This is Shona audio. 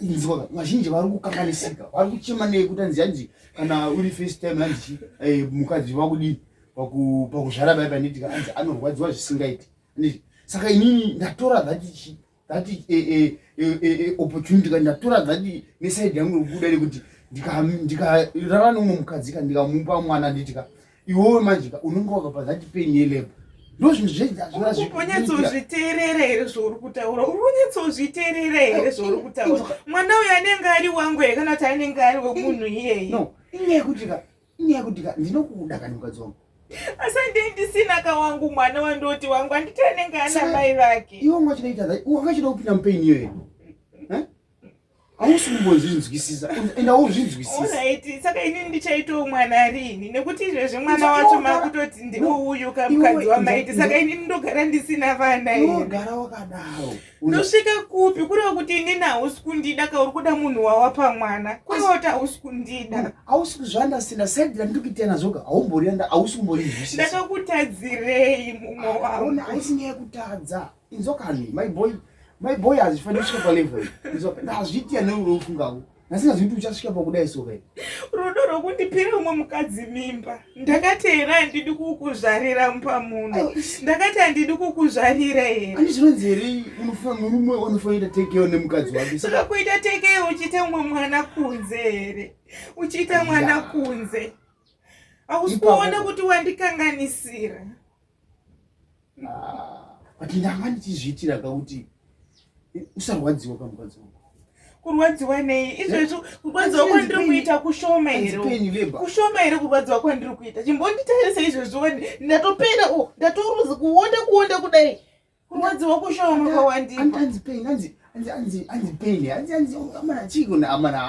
inzwa vazhinji vari kukanganisika vari kuchema nei kuti anzi hanzi kana uri first time hanzi eh, mukadzi vakudii pakuzvara bai panditi kaanzi anorwadziwa zvisingaiti anditi saka inini ndatora that that eh, eh, opportunity ka ndatora that nesaidi yangu yokuda rekuti ndikarara neumwe mukadzi ka ndikamupa mwana anditi ka iwowe manje ka unenge wakapa that pain yelebo ndozvozvonyatsouzviteerera here zvauri kutaura uri kunyatsouzviteerera here zvauri kutaura mwana uyo anenge ari wangu here kana kuti anenge ari wemunhu iyeye no inyaya yekuti ka inyaya yekuti ka ndinokuda kana mukadzi wangu asi andei ndisina ka wangu mwana wandoti wangu anditi anenge ana mai vake iwo mwachinoita wangachida kupinda mupaini iyoyo hausi kumbozvinzwisisa enda uzvinzwisisaaiti saka ini ndichaitawo mwana riini nekuti izvezvi mwana wacho makutoti ndiwo uyu kamukadzi wamaiti saka ini ndogara ndisina vana inogara wakadaro ndosvika kupi kureva kuti inini hausi kundida ka uri kuda munhu wawapa mwana kureva kuti hausi kundida hausi kuzvandasina saidi randiri kuita nazvoka haumborianda hausi kumborizwisisa ndakakutadzirei mumwe wangu haisi nyaya yekutadza Inzwa kani my boy my boy hazvifaniri kusvika palevel inzwa hazviiti ane rudo ufungawo asi hazviiti uchasvika pakudai so kai rudo rwokundipira umwe mukadzi mimba ndakati here handidi kukuzvarira mupamuno ndakati handidi kukuzvarira here ani zvinonzi here unofanira murume wanofanira kuita tekeo nemukadzi wake saka kuita tekeo uchiita umwe mwana kunze here uchiita mwana kunze hausi kuona kuti wandikanganisira Ah, but ndanga ndichizviitira ka kuti eh, usarwadziwa ka mukadzi wangu kurwadziwa nei izvezvo kurwadziwa kwandiri kuita kushoma here kushoma here kurwadziwa kwandiri kuita chimbonditarise izvezvo wani ndatopera o oh, ndatoruzi kuonda kuonda kudai kurwadziwa kushoma kwawandianzi pain anzi pain anzi anzi amana chiiko naamana